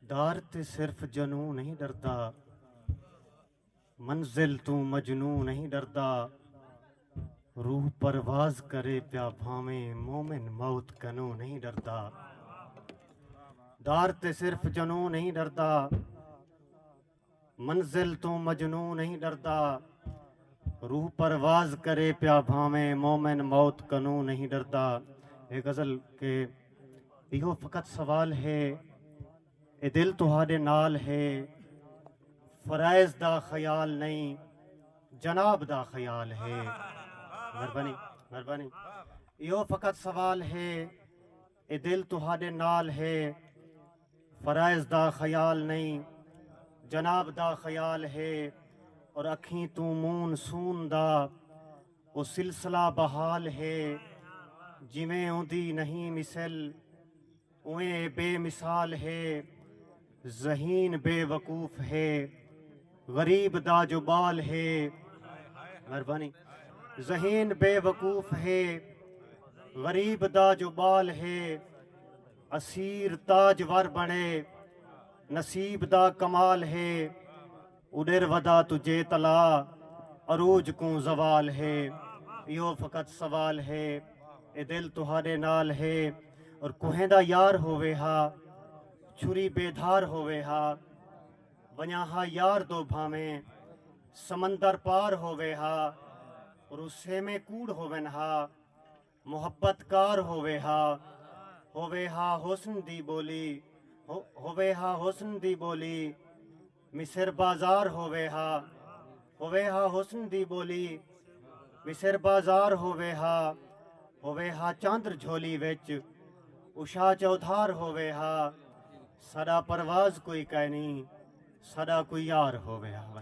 دار تے صرف جنوں نہیں ڈردا منزل توں مجنوں نہیں ڈردا روح پرواز کرے پیا بھاویں مومن موت کنوں نہیں ڈردا دار تے صرف جنوں نہیں ڈردا منزل توں مجنوں نہیں ڈردا روح پرواز کرے پیا بھاویں مومن موت کنوں نہیں ڈردا اے غزل کہ ایہو فقط سوال ہے اے دل تہاڈے نال ہے فرائض دا خیال نہیں جناب دا خیال ہے مہربانی مہربانی ایہو فقط سوال ہے اے دل تہاڈے نال ہے فرائض دا خیال نئیں جناب دا خیال ہے اور اکھیں توں مون سون دا او سلسلہ بحال ہے جیویں اوندی نہیں مثل اوئیں اے بے مثال ہے ذہین بے وقوف ہے غریب دا جو بال ہے مہربانی ذہین بے وقوف ہے غریب دا جو بال ہے اسیر تاج ور بنے نصیب دا کمال ہے اڈر ودا تو جے طلع عروج کوں زوال ہے ایہو فقط سوال ہے اے دل تہاڈے نال ہے اور کوہیں دا یار ہووے ہا چھری بے دھار ہووے ہا ونجاں ہا یار دو بھانویں سمندر پار ہووے ہا اور او سیویں کوڑ ہوون ہا۔ محبت کار ہووے ہا ہووے ہا حسن دی ٻولی ہووے ہا حسن دی ٻولی مصر بازار ہووے ہا ہووے ہا حسن دی ٻولی مصر بازار ہووے ہا ہووے ہا چاندر جھولی وچ عشا چودھار ہووے ہا ساݙا پرواز کوئی کائنی ساݙا کوئی یار ہووے ہا